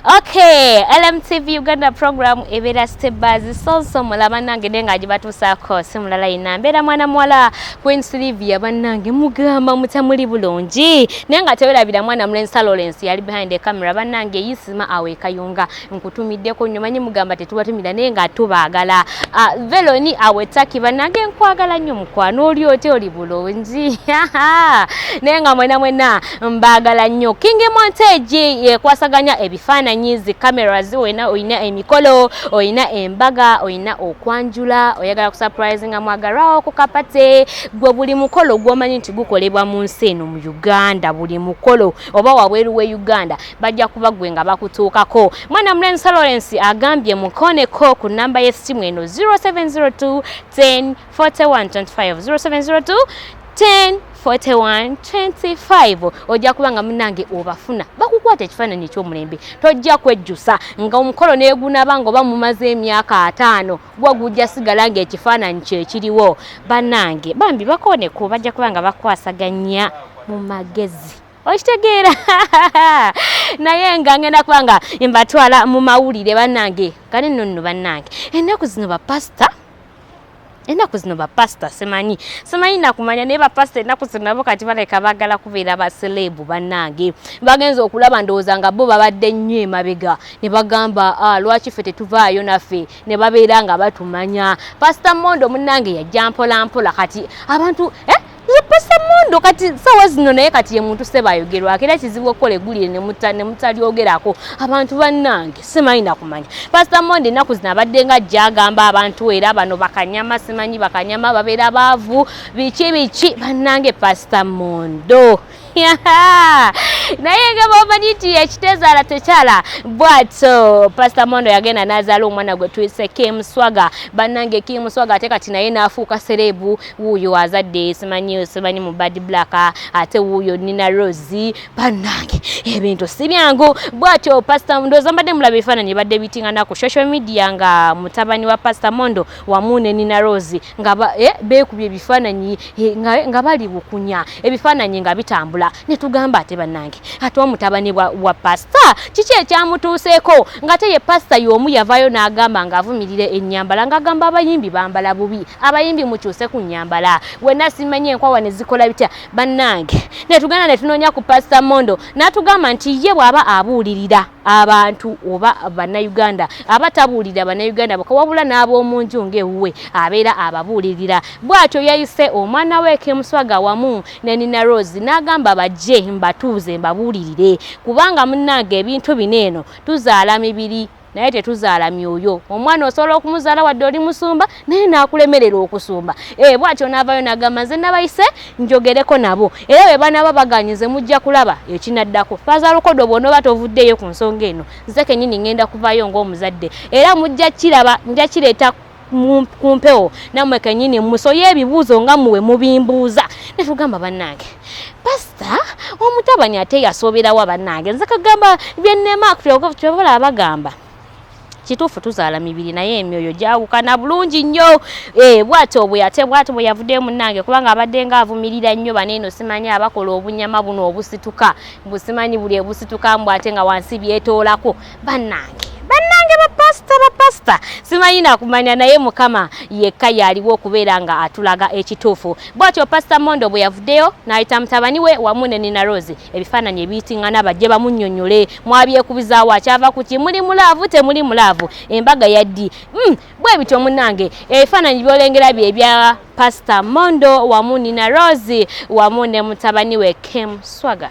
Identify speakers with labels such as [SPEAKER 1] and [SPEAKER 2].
[SPEAKER 1] Okay, LMTV Uganda program ebera step by so so mula banange denga ajibatusaako simulala ina mbera mwana mwala Queen Sylvia banange mugamba mutamuli bulungi nenga tewerabira mwana Mlensa Lawrence yali behind the camera banange yisima awe kayunga nkutumiddeko nyo manyi mugamba tetubatumira nenga tubagala uh, ah, Veloni awe taki banange nkwagala nyo mukwano oli ote oli bulungi nenga mwena mwena mbaagala nnyo king montage yekwasaganya ebifaananyi zi cameras olina olina emikolo olina embaga olina okwanjula oyagala kusurprise nga mwagalwawo ku kapate gwe buli mukolo gwomanyi nti gukolebwa mu nsi eno mu uganda buli mukolo oba wabweru we uganda bajja kuba gwe nga bakutuukako mwana mulenzi lawrence agambye mukoneko ku namba y'essimu eno 0702 10 4125 0702 10 4125 ojja kuba nga munange obafuna bakukwata ekifaananyi ekyomulembe tojja kwejjusa nga omukolo negunaba nga oba mumaze emyaka ataano gwa gujja sigala nga ekifaananyi kyekiriwo banange bambi bakoneku bajja kuba nga bakwasaganya mu magezi okitegeera naye nga ngenda kuba nga mbatwala mu mawulire banange kale nonno banange ennaku zino bapasita enaku zino bapasita simanyi simanyi nakumanya naye bapasita enaku zino nabo kati baleka bagala kubeera baseleebu bannange bagenza okulaba ndowooza nga bo babadde nnyo emabega ne bagamba ah, lwaki ffe tetuvaayo naffe ne babeera nga batumanya pasita mondo munnange yajja mpolampola kati abantu eh? yeposa mundu kati sawa zino naye kati ye muntu seba ayogerwa akira kizibu okole gulire ne muta ne mutali ogerako abantu banange simanyi nakumanya pastor monde naku zina badde nga jagamba abantu era bano bakanyama simanyi bakanyama babera bavu bichi bichi banange pastor mondo naye nga bwomanyi nti ekitezaala tekyala bwatyo pasita mondo yagenda nazaala omwana gwe tuyise kim swaga bannange kim swaga ate kati naye naafuuka sereebu wuuyo azadde simanyi simanyi mu bad black ate wuuyo nina rosi bannange ebintu si byangu bwatyo pasita ndooza mbadde mulaba ebifaananyi ebadde bitingana ku social media nga mutabani wa pasita mondo wamu ne Nina Rose nga ba, eh, beekubye ebifaananyi eh, nga, nga bali bukunya ebifaananyi nga bitambula ne tugamba ate bannange ate omutabani wa, wa pasita kiki ekyamutuuseeko ng'ate ye pasita y'omu yavaayo n'agamba ng'avumirira ennyambala ng'agamba abayimbi bambala bubi abayimbi mukyuse ku nnyambala wenna simanyi enkwawa ne zikola bitya bannange ne tugenda ne tunoonya ku pasita mondo n'atugamba nti ye bw'aba abuulirira abantu oba bannayuganda abatabuulirira bannayuganda boka wabula n'ab'omu nju ng'ewuwe abeera ababuulirira bw'atyo yayise omwana we kemuswaga wamu ne nina rose n'agamba bajje mbatuuze mbabuulirire kubanga munnange ebintu bino eno tuzaala mibiri naye tetuzaala myoyo omwana osobola okumuzaala wadde oli musumba naye n'akulemerera okusumba ee eh, bw'atyo n'avaayo n'agamba nze nabayise njogereko nabo era bwe banaaba baganye nze mujja kulaba ekinaddako faaza lukodo bw'onooba tovuddeeyo ku nsonga eno nze kennyini ngenda kuvaayo ng'omuzadde era mujja kiraba nja kireeta ku mpewo nammwe kennyini musoye ebibuuzo nga muwe mubimbuuza ne tugamba bannange pasita omutabani ate yasooberawa bannange nze kagamba byennema kyobola abagamba kituufu tuzaala mibiri naye emyoyo gyawukana bulungi nnyo eh, bwati obwe ate bwati bwe yavuddeyo munnange kubanga abadde nga avumirira nnyo bano eno simanyi abakola obunyama buno obusituka mbu simanyi buli ebusituka mbu ate nga wansi byetoolako bannange bannange bapasita bapasita simanyi nakumanya naye mukama yekka yaaliwo okubeera nga atulaga ekituufu bwatyo pasita mondo bwe yavuddeyo n'ayita mutabani we wamu ne nina rose ebifaananyi ebiyitingana bajje bamunyonyole mwabyekubizaawo akyava kuki muli mulaavu temuli mulaavu embaga yaddi mm, bwe bityo munange ebifaananyi byolengera bye bya pasita mondo wamu nina rose wamu ne mutabani we kim swaga